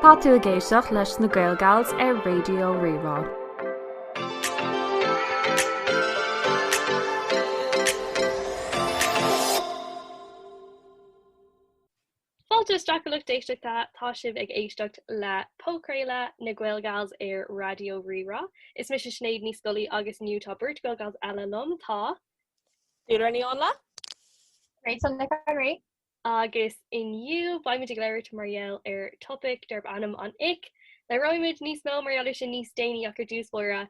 Tá tú ag éisteacht leis na GaelGals ar Raidió Rí-Rá. Fáilte isteach, a lucht éisteachta. Tá sibh ag éisteacht le podchraoladh na GaelGals ar Raidió Rí-Rá. Is mise Sinéad Ní Scolaí agus inniu tá beirt GaelGals eile liom. Tá. Dúlra Ní Fhionlaith. Rachel Nic Anraí. Agus inniu, beimid ag labhairt mar gheall ar topaic darb ainm An Ick. Labhróimid níos mó mar gheall air sin níos déanaí ach, ar dtús báire,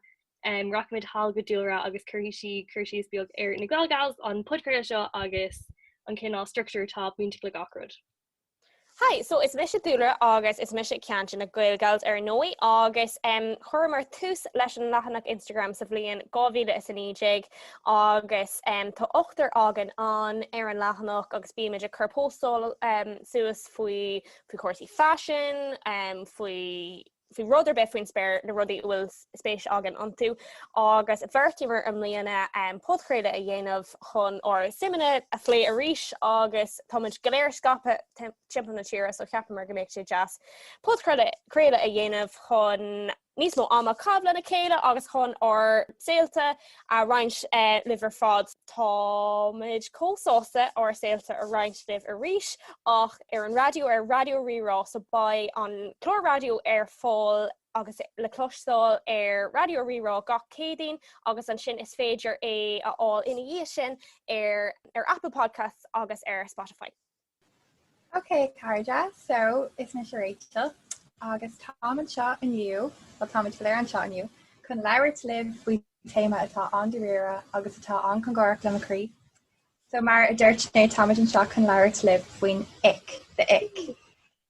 rachaimid thall go Dúlra agus cuirfidh sí cur síos beag ar na GaelGals, an podchraoladh seo agus an cineál struchtúir atá bainteach le gach rud. Hi, so is mise Dúlra agus is mise ceann de na GaelGals ar ndóigh agus em chuireamar tús leis an leathanach Instagram sa bhliain 2019 agus em tá ochtar againn ann ar an leathanach agus bímid ag cur póstail em suas faoi faoi chúrsaí faisin em faoi faoi rud ar bith faoin spéir, na rudaí a bhfuil spéis againn iontu, agus bheartaíomar i mbliana podchraoladh a dhéanamh chun ár suimeanna a phlé arís agus táimid go léir scaipthe timpeall na tíre so cheapamar go mbeadh sé deas podchraoladh a dhéanamh chun níos mó ama a chaitheamh lena chéile agus chun ár saolta a roinnt libh ar fad. Táimid chomh sásta ár saolta a roinnt libh arís ach ar an raidió, ar Raidió Rí-Rá, so beidh an clár raidió ar fáil agus le cloisteáil ar Raidió Rí-Rá gach Céadaoin agus ansin is féidir é a fháil ina dhiaidh sin ar Apple Podcasts agus ar Spotify. Ok cairde, so is mise Rachel agus táim anseo inniu, bhuel táimid go léir anseo inniu, chun labhairt libh faoi téama atá an-dáiríre agus atá an-chongárach le mo chroí. So mar a dúirt mé táimid anseo chun labhairt libh faoin ick, the ick.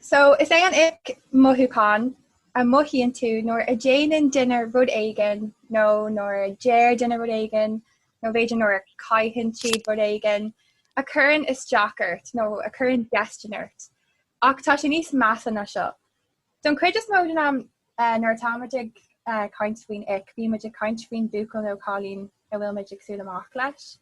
So, is é an ick mothúchán a mothaíonn tú nuair a déanann duine rud éigin nó nuair a deir duine rud éigin nó b'fhéidir nuair a caitheann siad rud éigin a chuireann isteach ort nó a chuireann déistin ort ach tá sé níos measa ná seo. Don chuid is mó den am nuair atáimid ag caint faoin ick bímid ag caint faoin bhuachaill nó cailín a bhfuilmid ag siúl amach leis.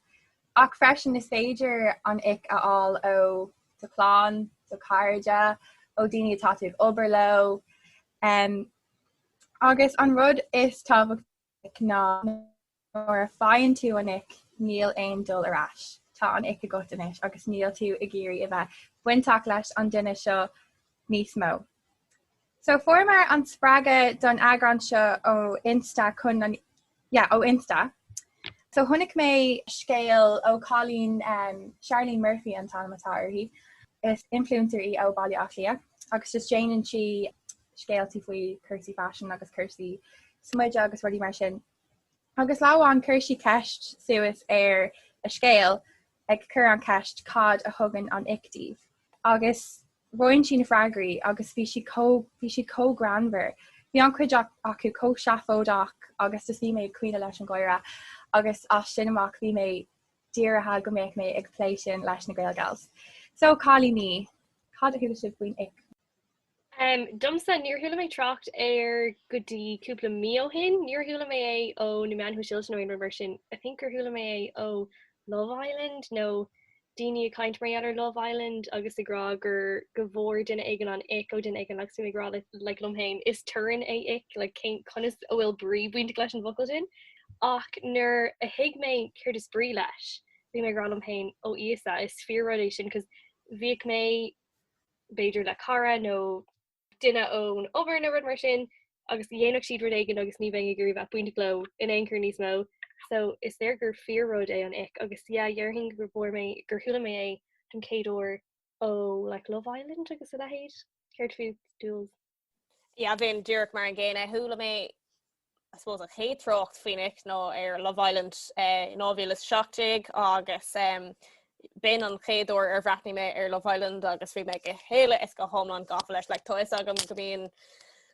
Ach freisin is féidir an ick a fháil ó do chlann, do chairde, ó daoine atá tú ag obair leo. Agus an rud is tábhachtaí ná nuair a faigheann tú an ick níl aon dul ar ais, tá an ick agat anois agus níl tú ag iarraidh a bheith bainteach leis an duine seo níos mó. So fuaireamar an spreagadh don eagrán seo ó Insta chun an yeah ó Insta. So chonaic mé scéal ó chailín Charlene Murphy an t-ainm atá uirthi. Is influencer í ó Baile Átha Cliath agus just déanann sí scéaltaí faoi chúrsaí faisin agus cúrsaí smididh agus rudaí mar sin. Agus lá amháin chuir sí ceist suas ar a scéal ag cur an cheist cad a thugann an ick daoibh? agus roinn sí na freagraí agus bhí siad chomh bhí siad chomh greannmhar. Bhí an chuid acu chomh seafóideach agus just bhí mé ag caoineadh leis an gháire agus as sin amach bhí mé dírithe go mbeadh mé ag plé sin leis na Gael Gals. So cailíní, cad a chuala sibh faoin ick? Domsa, níor chuala mé trácht air go dtí cúpla mí ó shin. Níor chuala mé é ó na meáin shóisialta nó aon rud mar sin. I think gur chuala mé é ó Love Island nó daoine ag caint mar gheall ar Love Island agus ag rá gur go bhfuair duine éigin an ick ó duine éigin agus bhí mé ag rá like liom féin is torann é ick like cén, conas a bhfuil brí bainteach leis an bhfocal sin ach nuair a thuig mé céard is brí leis bhí mé ag rá liom féin, 'Ó Íosa, is fíor-rud é sin' 'cause bhíodh mé. b'fhéidir le cara nó duine ón obair nó rud mar sin agus dhéanfadh siad rud éigin agus ní bheinn ag iarraidh bheith bainteach leo in aon chor níos mó so is léir gur fíor-rud é an ick agus yeah dhéarfainn gur fuair mé gur chuala mé é don chéad uair ó like Love Island agus a leithéid céard fútsa Jules? Yeah, bhínn díreach mar an gcéanna. Chuala mé I suppose an chéad trácht faoin ick nó ar Love Island eh, 2017 agus um, b'in an chéad uair ar bhreathnaigh mé ar Love Island agus bhí mé go huile is go hiomlán gafa leis. Like, tá a fhios agam go mbíonn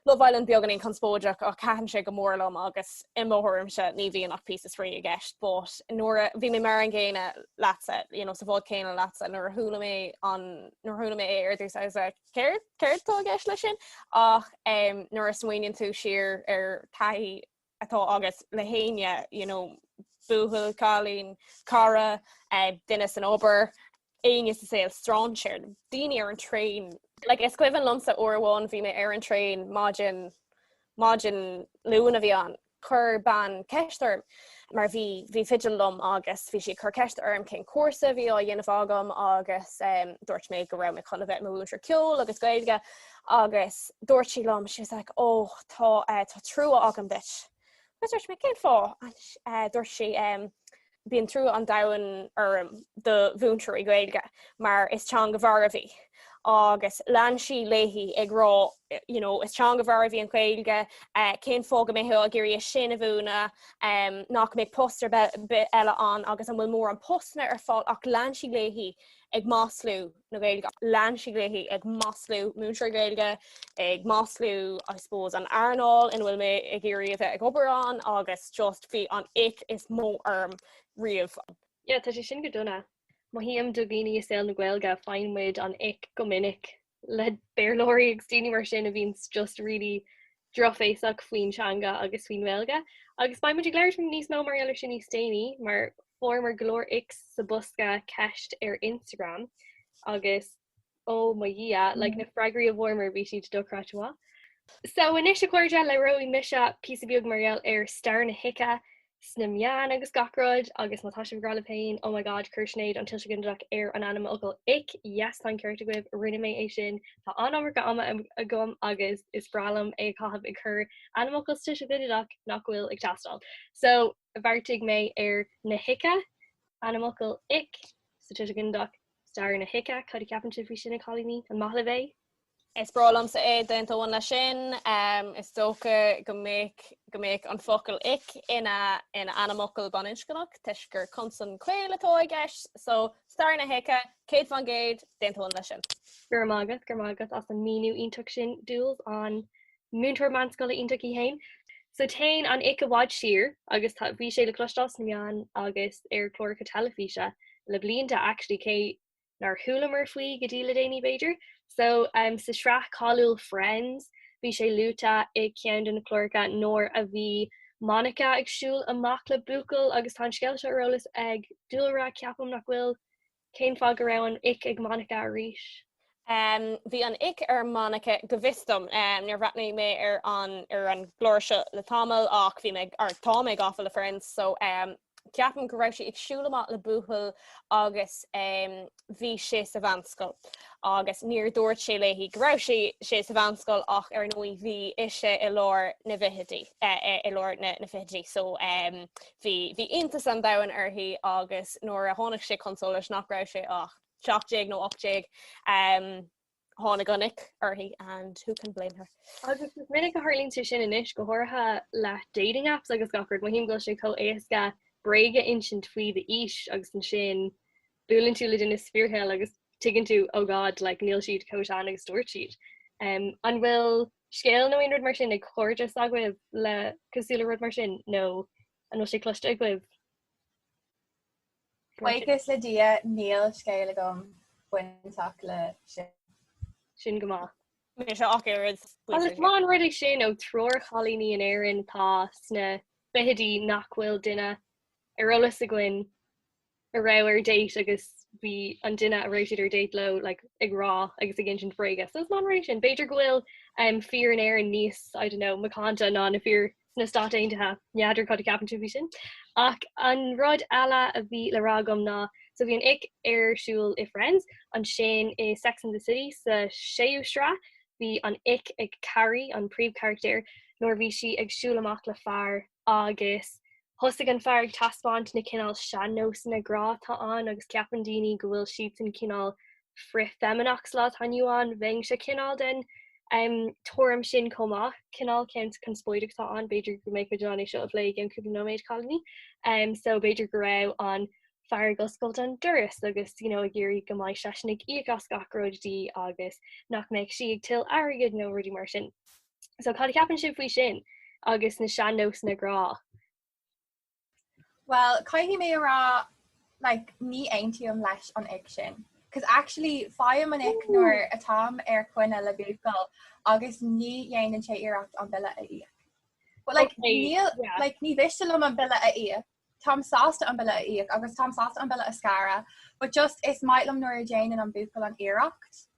Love Island beagáinín conspóideach ach taitníonn sé go mór liom agus i mo thuairimse ní bhíonn ach píosa spraoi i gceist, but nuair a bhí mé mar an gcéanna leatsa, you know, sa bhád céanna leatsa nuair a chuala mé an nuair a chuala mé é ar dtús I was like Céard, céard atá i gceist leis sin? Ach nuair a smaoineann tú siar ar taithí atá agat le héinne, you know, buachaill, cailín, cara, eh, duine san obair, éinne sa saol, strainséir, daoine ar an traein, like is cuimhin liomsa uair amháin bhí mé ar an traein maidin, maidin Luain a bhí ann, Chuir bean ceist orm, mar bhí fidil liom, agus bhí sí ag cur ceist orm cén cúrsa a bhí á dhéanamh agam agus dúirt mé go raibh mé chun a bheith i mo mhúinteoir ceoil agus Gaeilge agus dúirt sí liom, she was like, oh, tá trua agam duit. Agus dúirt mé, cén fáth? Dúirt sí, bíonn trua an domhain orm do mhúinteoirí Gaeilge mar is teanga mharbh í agus lean sí léi ag rá you know, is teanga mharbh í an Gaeilge, uh, cén fáth go mbeifeá ag iarraidh é sin a mhúineadh, um, nach mbeidh post ar bith eile ann agus an bhfuil mórán postanna ar fáil ach lean sí léi ag maslú na Gaeilge. Lean sí léi ag maslú múinteoirí Gaeilge, ag maslú I suppose an earnáil ina bhfuil mé ag iarraidh a bheith ag obair ann agus just bhí an ick is mó orm riamh. Yeah, tá sé sin go dona. Mothaím do dhaoine i saol na Gaeilge, faigheann muid an ick go minic le Béarlóirí agus daoine mar sin a bhíonns just really drochbhéasach faoin teanga agus faoin nGaeilge, agus beidh muid ag labhairt níos mó mar gheall air sin níos déanaí, mar fuaireamar go leor icks sa bhosca ceist ar Instagram agus ó mo Dhia, like na freagraí a fuaireamar bhí siad dochreidte mhaith. So anois a chairde, labhróidh mise píosa beag mar gheall ar stair na hice, sna meáin agus gach rud agus má tá sibh ag rá libh féin oh my god chuir Sinéad an tuiseal ginideach ar an ainmfhocal ick yes tá an ceart agaibh rinne mé é sin tá an iomarca ama agam agus is breá liom é a chaitheamh ag cur ainmfhocal sa tuiseal ginideach nach bhfuil ag teastáil so bheartaigh mé ar na hice ainmfhocal ick sa tuiseal ginideach stair na hice cad a cheapann sibh faoi sin a chailíní? an maith libh é? Is breá liomsa é d'aontóinn leis sin. Is dócha go mbeadh an focal ic ina ainmfhocal baininscneach toisc gur consan caol atá i gceist. So, stair na hice, céad faoin gcéad, d'aontóinn leis sin. Go raibh maith agat, go raibh maith agat as an míniú iontach sin, Jules, an múinteoir meánscoile iontach í féin. So, téann an ic i bhfad siar agus tá bhí sé le cloisteáil sna meáin agus ar chláracha teilifíse le blianta, actually, cé nár chualamar faoi go dtí le déanaí b'fhéidir. So, sa tsraith cháiliúil Friends, bhí sé luaite i gceann de na cláracha nuair a bhí Monica ag siúl amach le buachaill agus tá an scéal seo ar eolas ag Jules, ceapaim nach bhfuil, cén fáth go raibh an ick ag Monica arís? Bhí an ick ar Monica go bhfios dom. Níor bhreathnaigh mé ar an ar an gclár seo le tamall ach bhí mé, or tá mé gafa le Friends so Ceapaim go raibh sí ag siúl amach le buachaill agus bhí sé sa mheánscoil agus níor dhúirt sé léi go raibh sé sa mheánscoil ach ar ndóigh bhí ise i lár na bhfichidí, i lár na fichidí so bhí iontas an domhain uirthi agus nuair a tháinig sé chun solais nach raibh sé ach 17 nó 18, tháinig an ic uirthi and who can blame her. Agus is minic a tharlaíonn sé sin anois go háirithe le dating apps agus gach rud, mothaím go bhfuil sé chomh éasca bréag a insint faoi d'aois agus ansin buaileann tú le duine sa fíorshaol agus tuigeann tú oh God like níl siad chomh sean agus a dúirt siad. Um, an bhfuil scéal nó aon rud mar sin ag cairde s'agaibh le cosúil le rud mar sin nó an bhfuil sé cloiste agaibh? Buíochas le Dia níl scéal agam bainteach le sin. Sin go maith. Mise ach oiread. Is maith an rud é sin ó triúr chailíní in Éirinn atá sna fichidí nach bhfuil duine ar eolas againn a raibh ar date agus bhí an duine a raibh siad ar date leo like ag rá agus ag insint bhréige. So is maith an rud é sin. B'fhéidir go bhfuil fir in Éirinn níos, I don't know, macánta ná na fir sna Stáit Aontaithe, n'fheadar cad a ceapann tú faoi sin. Ach an rud eile a bhí le rá agam ná so bhí an ick ar siúl i Friends, ansin i Sex and the City sa séú sraith, bhí an ick ag Carrie, an príomhcharachtar, nuair a bhí sí ag siúl amach le fear agus thosaigh an fear ag taispeáint na cineál sean-nósanna grá atá ann agus ceapann daoine go bhfuil siadsan cineál frith-fheimineach sa lá atá inniu ann, bheinnse cineál den um tuairim sin chomh maith, cineál ceann conspóideach atá ann, b'fhéidir go mbeidh muid in ann é seo a phlé i gceann cúpla nóiméad, Cailíní. Um so b'fhéidir go raibh an fear ag oscailt an doras agus you know ag iarraidh go mbeidh seisean ag íoc as gach rud di agus nach mbeadh sí ag tuilleamh airgead nó rudaí mar sin. So cad a cheapann sibh faoi sin agus na sean-nósanna grá? Bhuel, caithfidh mé a rá like, ní aontaím leis an ick sin. Cos actually faighim an ick nuair atám ar choinne le buachaill agus ní dhéanann sé iarracht an bille a íoc. But like, Okay, níl, yeah. like, ní mhiste liom an bille a íoc. Táim sásta an bille a íoc agus táim sásta an bille a scaradh, but just is maith liom nuair a déanann an buachaill an iarracht.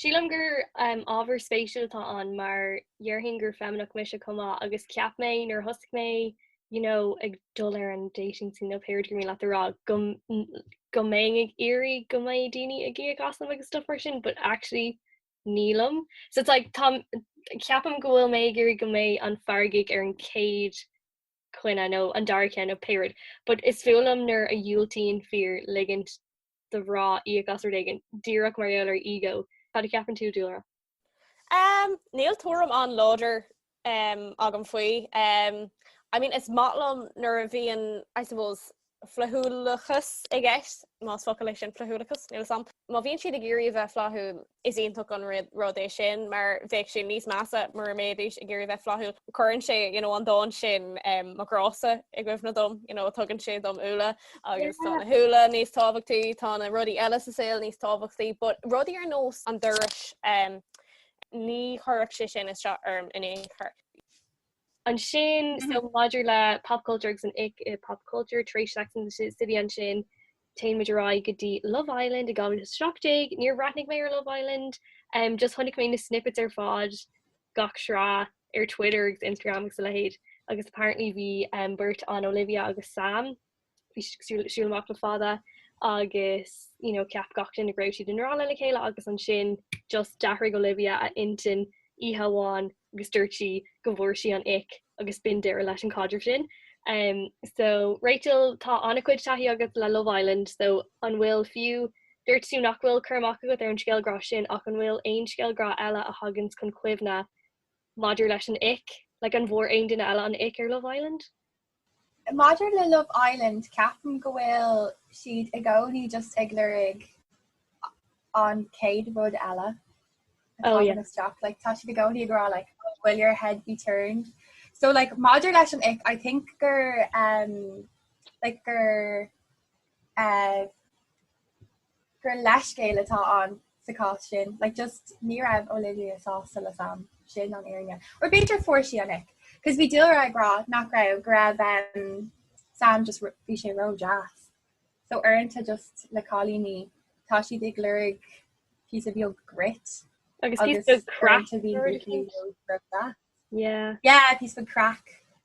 Sílim gur ábhar spéisiúil atá ann mar dhéarfainn gur feimineach mise chomh maith agus cheap mé nuair a thosaigh mé you know ag dul ar an dating scene nó pé rud gur mhaith leat a rá go go mbeinn ag iarraidh go mbeidh daoine ag íoc asam agus stuff mar sin but actually nílim. So it's like tá ceapaim go bhfuil mé ag iarraidh go mbeidh an fear ag íoc ar an chéad choinne nó an dara cheann nó pé rud but is fuath liom nuair a dhiúltaíonn fir ligint do mhná íoc as rud éigin, díreach mar gheall ar ego. Cad a cheapann tú, dúlra? Um, níl tuairim an-láidir um, agam faoi. Um, I mean, is maith liom nuair a bhíonn, I suppose, flaithiúlachas i gceist, más focal é sin flaithiúlachas, níl a fhios agam. Má bhíonn siad ag iarraidh a bheith flaithiúil, Is iontach an rud é sin mar bheadh sé níos measa mura mbeidís ag iarraidh a bheith flaithiúil. Cuireann sé, you know, an dán sin Mo Ghrá-sa i gcuimhne dom, you know, tugann sé dom úlla agus tá na húlla níos tábhachtaí, tá na rudaí eile sa saol níos tábhachtaí. But rudaí ar nós an dorais, ní chuirfeadh sé sin isteach orm in aon chor. ansin, so maidir le pop culture agus an ick i pop culture, tar éis Sex and the City ansin, téann muid ar aghaidh go dtí Love Island i 2017, níor bhreathnaigh mé ar Love Island, um, just chonaic mé na snippets ar fad gach sraith ar Twitter agus Instagram agus a leithéid agus apparently bhí um, beirt ann, Olivia agus Sam siúl amach le fada agus you know ceap gach duine go raibh siad i ngrá le chéile agus ansin just d'athraigh Olivia a intinn oíche amháin agus dúirt sí go bhfuair sí an ick agus b'in deireadh leis an caidreamh sin. Em so Rachel tá ana-chuid taithí agat le Love Island so an bhfuil fiú, dúirt tú nach bhfuil cur amach agat ar an scéal grá sin ach an bhfuil aon scéal grá eile a thaganns chun cuimhne maidir leis an ick, like an bhfuair aon duine eile an ick ar Love Island? Maidir le Love Island, ceapaim go bhfuil siad i gcónaí just ag lorg an chéad rud eile a thagann isteach. Like tá siad i gcónaí ag rá like oh, will your head be turned? So like maidir leis an ick, I think gur um, like gur uh, gur leithscéal atá ann sa chás sin, like just ní raibh Olivia sásta le Sam, sin an fhírinne. Or b'fhéidir fuair sí an ick, cos bhí dúlra ag rá nach raibh, go raibh ehm Sam just ró, bhí sé ró deas. So uaireanta just le cailíní tá siad ag lorg píosa beag grit Agus yeah, píosa beag craic.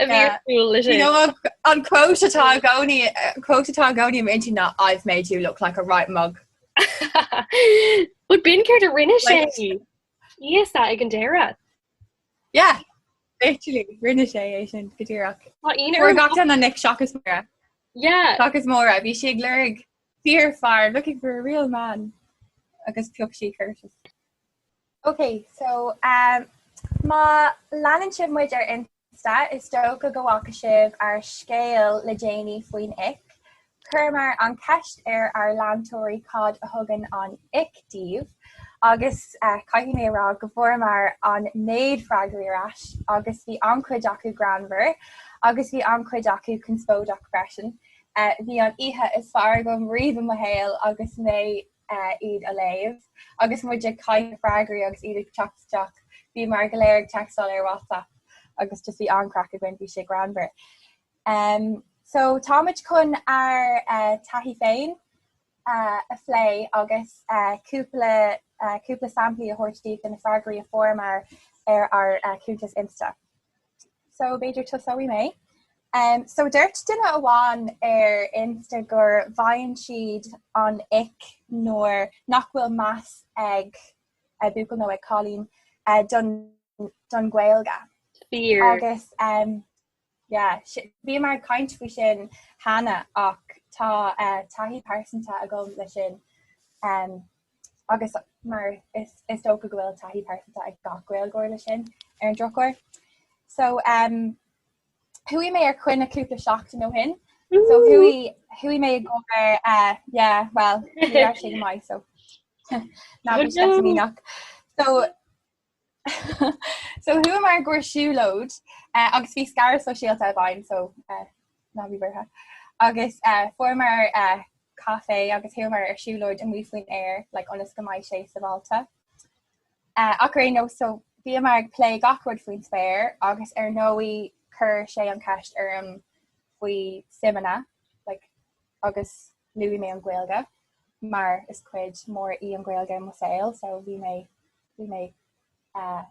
a bhí ag súil leis sin. An quote atá i gcónaí i m'intinn ná I've made you look like a right mug. But b'in céard a rinne sé yes ag an deireadh? Yeah, literally rinne sé é sin go díreach. Fuair gach duine an ick seachas Maura. yeah, Seachas Maura, bhí sí ag lorg fíorfhear looking for a real man agus phioc sí Curtis. Ok so má leanann sibh muid ar Insta is dócha go bhfaca sibh ár scéal le déanaí faoin ick. Chuireamar an cheist ar ár leantóirí cad a thugann an ick díobh agus caithfidh mé a rá go bhfuaireamar an méid freagraí ar ais agus bhí an-chuid acu greannmhar agus bhí an-chuid acu conspóideach freisin. Bhí an oíche is fearr agam riamh i mo shaol agus mé iad a léamh. Agus muid ag caitheamh freagraí agus iad ag teacht isteach bhíomar go léir ag textáil ar WhatsApp agus just bhí an-chraic againn, bhí sé greannmhar. Em, so tá muid chun ár taithí féin a phlé agus cúpla cúpla samplaí a thabhairt daoibh de na freagraí a fuaireamar ar ár cuntas Insta. so b'fhéidir tosóidh mé. So dúirt duine amháin ar Insta gur bhfaigheann siad an ick nuair nach bhfuil meas ag buachaill nó ag cailín don Ghaeilge. Fair. Agus yeah bhíomar ag caint faoi sin cheana ach tá taithí pearsanta agam leis sin. agus mar is dócha go bhfuil taithí pearsanta ag gach Gaeilgeoir leis sin ar an drochuair. So um, chuaigh mé ar coinne cúpla seachtain ó shin, so chuaigh chuaigh mé i gcomhair uh, yeah, well sé go maith so ná mí nach. So So chuamar i gcomhair siúlóid agus bhí scaradh sóisialta i bhfeidhm, so ná bí buartha, agus fuaireamar caife agus chuamar ar siúlóid amuigh faoin aer like ionas go mbeidh sé sábháilte. Ach ar aon nós so bhíomar ag plé gach rud faoin spéir agus ar ndóigh chuir sé an cheist orm faoi suimeanna like agus Luaigh mé an Ghaeilge mar is cuid mór í an Ghaeilge i mo shaol so bhí mé bhí mé eh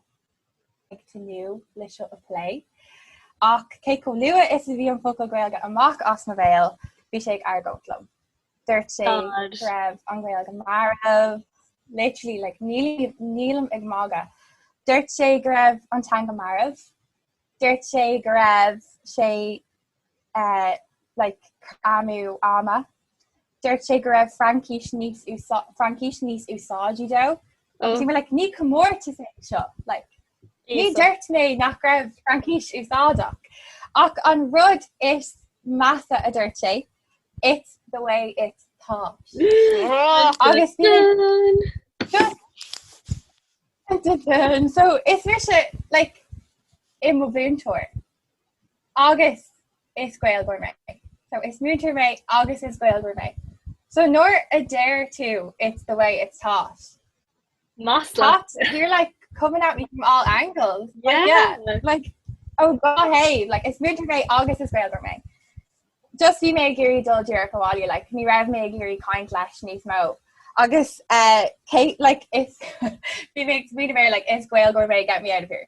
ag tnúth leis seo a phlé. Ach chomh luath is a bhí an focal Gaeilge amach as mo bhéal bhí sé ag argóint liom. Dúirt sé go raibh an Ghaeilge marbh, literally like níl nílim ag magadh. Dúirt sé go raibh an teanga marbh. Dúirt sé go raibh sé uh, like, amú ama. Dúirt sé go raibh Fraincis níos Fraincis níos úsáidí dó. Oh. Sin like, ní commórtas é seo like, Ní dúirt mé nach raibh Fraincis úsáideach. Ach an rud is measa a dúirt sé, it's the way it's taught. agus so is mise like, i mo mhúinteoir. agus is Gaeilgeoir mé. So is múinteoir mé agus is Gaeilgeoir mé. So nuair a deir tú it's the way it's taught, you're like coming at me from all angles. Like, yeah, Yeah. like, oh god, hey, like, is múinteoir mé agus is Gaeilgeoir mé. Just bhí mé ag iarraidh dul díreach abhaile, like, ní raibh mé ag iarraidh caint leis níos mó. Agus eh, Kate, like, is, bhí mé ag smaoineamh air, like, is Gaeilgeoir mé, get me out of here.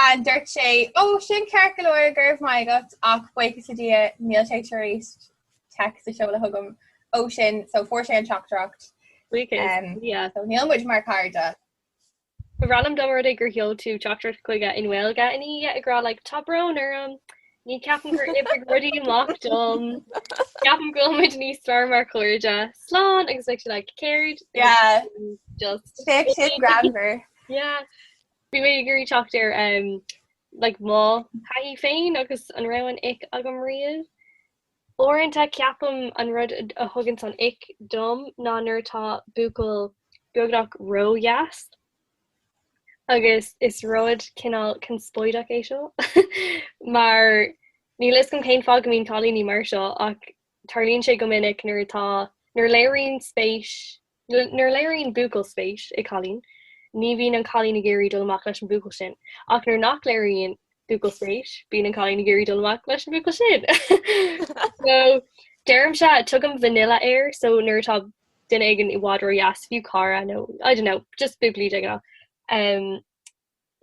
An dúirt sé, Ó, sin ceart go leor, go raibh maith agat, ach buíochas le Dia, níl sé tar éis text a seoladh chugam ó sin, so fuair sé an teachtaireacht. Buíochas le Dia. So níl muid mar cairde. Ba bhreá liom dá mba rud é gur sheol tú teachtaireacht chuige i nGaeilge i ndiaidh ag rá like tá brón orm, ní ceapaim gur oibrigh rudaí amach dom, ceapaim go bhfuil muid níos fearr mar chairde, slán agus like céard, just féach sin greannmhar. Yeah. Bhí mé ag iarraidh teacht ar like mo thaithí féin agus an raibh an ick agam riamh. Uaireanta ceapaim an rud a thugann an ick dom ná nuair atá buachaill beagnach ródheas agus is rud cineál conspóideach é seo mar níl a fhios agam cén fáth go mbíonn cailíní mar seo ach tarlaíonn sé go minic nuair atá, nuair a léiríonn spéis Nuair a léiríonn buachaill spéis i cailín, ní bhíonn an cailín ag iarraidh dul amach leis an buachaill sin, ach nuair nach léiríonn buachaill spéis, bíonn an cailín ag iarraidh dul amach leis an buachaill sin. so, deirimse, tugaim vanilla air, so nuair atá duine éigin i bhfad ródheas, fiú cara nó I don't know, just buachaillí de ghnáth, em,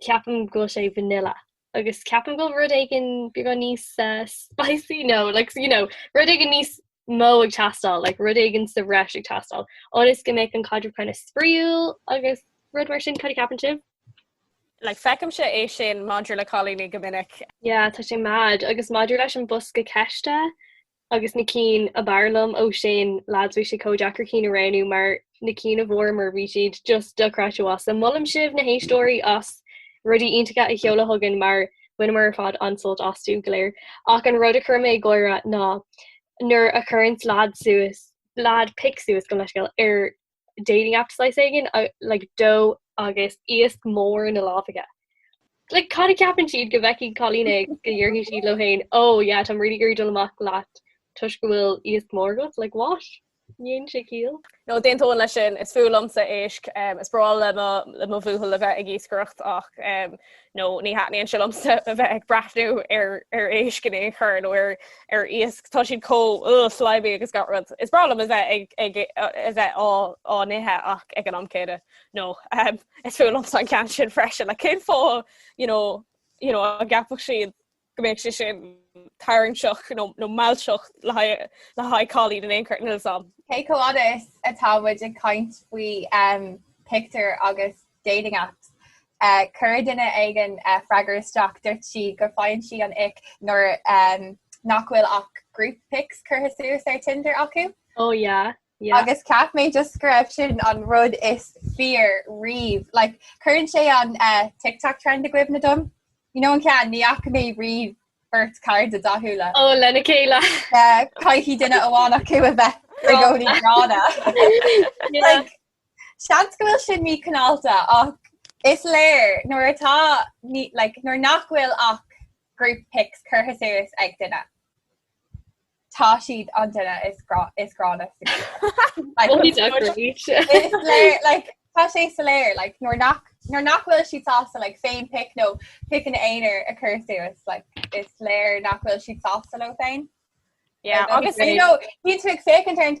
ceapaim go bhfuil sé vanilla. Agus ceapaim go bhfuil rud éigin beagán níos, eh, spicy? No, like, you know, rud éigin níos... mó ag teastáil, like rud éigin sa bhreis ag teastáil, ionas go mbeidh an caidreamh kind of spraíúil agus rud mar sin cad a ceapann sibh? Like feicimse é sin maidir le cailíní go minic. Yeah, tá sé mad, agus maidir leis an bosca ceiste agus na cinn ab fhearr liom ó sin, lads bhí sé chomh deacair cinn a roghnú mar na cinn a bhfuaireamar bhí siad just dochreidte agus molaim sibh na héisteoirí as rudaí iontacha a sheoladh chugainn mar bhaineamar ar fad an-sult astu go léir. Ach an rud a chuir mé ag gáire ná nuair a chuireann lad suas, lad, pic suas gabh mo leithscéal, ar dating app saghas éigin like dó agus iasc mór ina lámha aige. Like cad a ceapann siad go bhfeicfidh cailín é agus go ndéarfaidh siad leo féin oh yeah táim really ag iarraidh dul amach leat toisc go bhfuil iasc mór agat? Like what? Ní dhéanann sé ciall. No, d'aontóinn leis sin, is fuath liomsa éisc, is breá liom mo bhuachaill a bheith ag iascaireacht ach no, ní thaitníonn sé liomsa a bheith ag breathnú ar éisc in aon chor nó ar iasc, tá siad chomh, uh, slimy agus gach rud. Is breá liom a bheith a bheith á n-ithe ach ag an am céanna, no, is fuath liomsa an ceann sin freisin, like cén fáth, you know, you know, a gceapfadh siad go mbeidh sé sin tarraingteach nó mealltach le haghaidh cailín in aon chor níl a fhios agam. Okay, chomh fada is atá muid ag caint faoi pictiúir agus dating apps, chuir duine éigin freagra isteach, dúirt sí go faigheann sí an ick nuair nach bhfuil ach group pics curtha suas ar Tinder acu. Ó yeah. Yeah. agus ceap mé just go raibh sin an rud is fearr riamh like cuireann sé an uh, tiktok trend i gcuimhne dom you know an ceann ní fhaca mé riamh beirt cairde dathúla ó lena chéile uh, caithfidh duine amháin acu a bheith i gcónaí gránna like seans go bhfuil sin míchineálta ach is léir nuair atá like nuair nach bhfuil ach group pics curtha suas ag duine Tá siad an duine is gránna. Tá sé soiléir nuair nach nuair nach bhfuil siad sásta like féinphic nó pic ina n-aonar a chur suas like is léir nach bhfuil siad sásta leo féin. agus bíonn tú ag féachaint ar an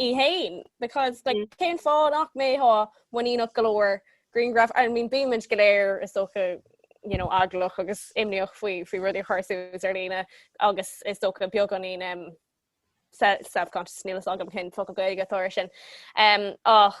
í fhéin, because like cén fáth nach mbeadh muiníneach go leor grianghraf, I mean bíonn muid go léir is dócha you know eaglach agus imníoch faoi faoi rudaí a chur suas ar líne agus is dócha beagán í um, self-conscious níl fhios agam cén focal Gaeilge atá air sin um, ach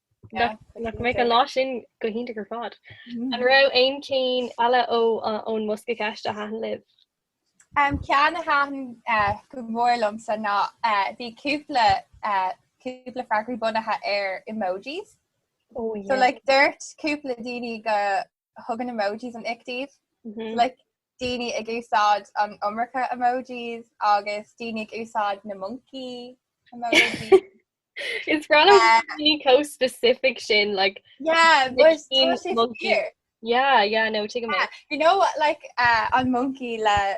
Nach mbeadh an lá sin go hiontach ar fad. An raibh aon cheann eile ón mbosca ceist a thaitin libh? An ceann a thaitin go mór liomsa ná bhí cúpla cúpla freagraí bunaithe ar emojis. Ó, yeah. So like dúirt cúpla daoine go dtugann emojis an ick dóibh. Mm-hmm. Like, daoine ag úsáid an iomarca emojis agus daoine ag úsáid na moncaí emojis. It's random chomh specific sin like yeah no you know like uh, an moncaí le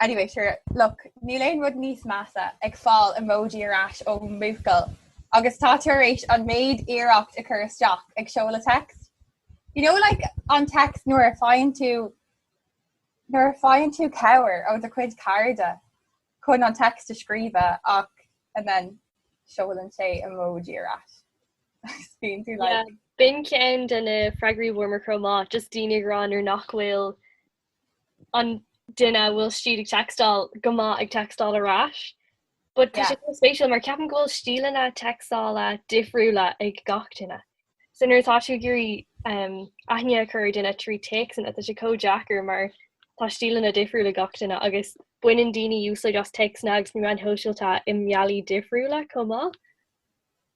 Anyway sure look níl aon rud níos measa ag fáil emoji ar ais ó bhuachaill agus tá tú ar éis an méid iarracht a chur isteach ag seoladh an text. You know like an text nuair a faigheann tú nuair a faigheann tú cabhair ó do chuid cairde chun an text a scríobh ach and then seolann sé emoji ar ais. Bíonn tú like Bin ceann de na freagraí a fuair muid chomh maith, just daoine ag rá nuair nach bhfuil an duine a bhfuil siad ag teacstáil go maith ag teacstáil ar ais. But tá sé chomh spéisiúil mar ceapaim go bhfuil stíleanna teacstála difriúla ag gach duine. So nuair atá tú ag iarraidh aithne a chur ar duine trí téacsanna tá sé chomh deacair mar tá stíleanna difriúla ag gach duine agus baineann daoine úsáid as téacsanna agus na meáin shóisialta i mbealaí difriúla chomh maith.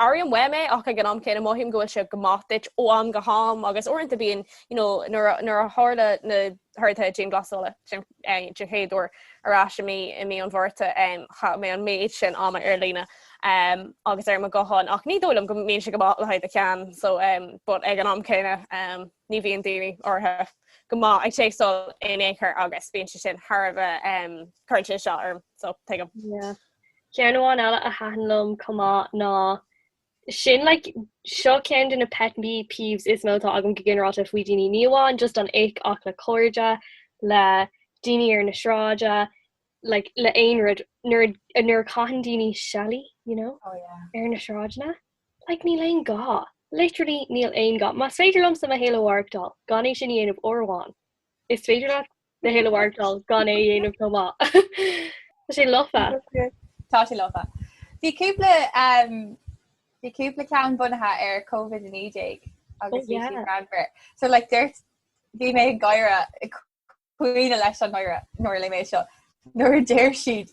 Airím uaim é ach ag an am céanna mothaím go bhfuil sé go maith duit ó am go ham agus uaireanta bíonn, you know, nuair a tharla na horduithe dianghlasála sin den chéad uair ar ais i mí i mí an Mhárta chaith mé an méid sin ama ar líne agus ar mo ghuthán ach ní dóigh liom go mbíonn sé go maith le haghaidh do cheann so but ag an am céanna ní bhíonn daoine áirithe go maith ag téacsáil in aon chor agus bíonn sé sin thar a bheith um cuireann sé isteach orm so tuigim. Ceann amháin eile a thaitin liom chomh maith ná sin, like, seo ceann de na pet peeves is mó atá agam go ginearálta faoi daoine, ní amháin just an ick ach le cairde, le daoine ar na sráide, like, le aon rud, nuair a, nuair a chaitheann daoine seile, you know, ar na sráideanna, like, níl aon ghá, literally níl aon ghá. Más féidir liomsa mo shaol a mhaireachtáil gan é sin a dhéanamh, uair amháin, is féidir leat do shaol a mhaireachtáil gan é a dhéanamh chomh maith. Tá sé lofa. Tá sé lofa. Bhí cúpla um, bhí cúpla ceann bunaithe ar COVID-19 agus bhí siad greannmhar. So like dúirt bhí mé ag gáire ag caoineadh leis an ngáire nuair a léigh mé seo nuair a deir siad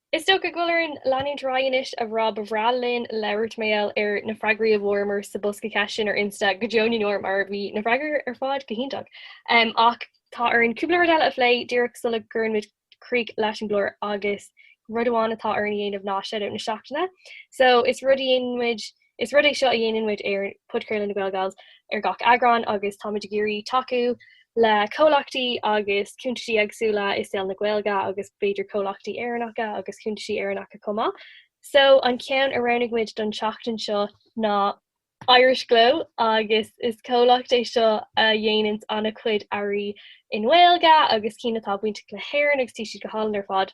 Is dócha go bhfuil orainn leanúint ar aghaidh anois, a Rob. Ba bhreá linn labhairt mar gheall ar na freagraí a fuaireamar sa Bosca Ceisteanna ar Insta go deo na ndeor, mar bhí na freagraí ar fad go hiontach. Ach tá orainn cúpla rud eile a phlé díreach sula gcuireann muid críoch leis an gclár agus rud amháin atá orainn a dhéanamh ná shout-out na seachtaine. So, is rud a dhéanann muid. Is rud é seo a dhéanann muid ar Podchraoladh na nGael Gals ar gach eagrán agus táimid ag iarraidh tacú le comhlachtaí agus cuntais éagsúla i saol na Gaeilge agus b'fhéidir comhlachtaí Éireannacha agus cuntais Éireannacha chomh maith. So an ceann a roghnaigh muid don tseachtain seo ná Irish Glow agus is comhlacht é seo a dhéananns an-chuid earraí i nGaeilge agus cinn atá bainteach le hÉirinn agus tá siad go hálainn ar fad.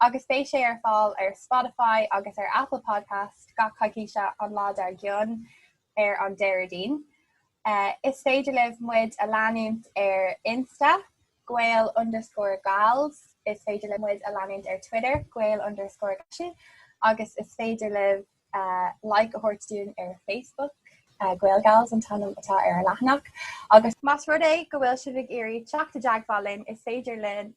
agus beidh sé ar fáil ar Spotify agus ar Apple Podcast gach coicíse an lá dár gcionn ar an Déardaoin. Is féidir libh muid a leanúint ar Insta, gael underscore gals, is féidir libh muid a leanúint ar Twitter, gael underscore galsi, agus is féidir libh like a thabhairt dúinn ar Facebook, GaelGals an t-ainm atá ar an leathanach, agus más rud é go bhfuil sibh ag iarraidh teacht i dteagmháil linn is féidir libh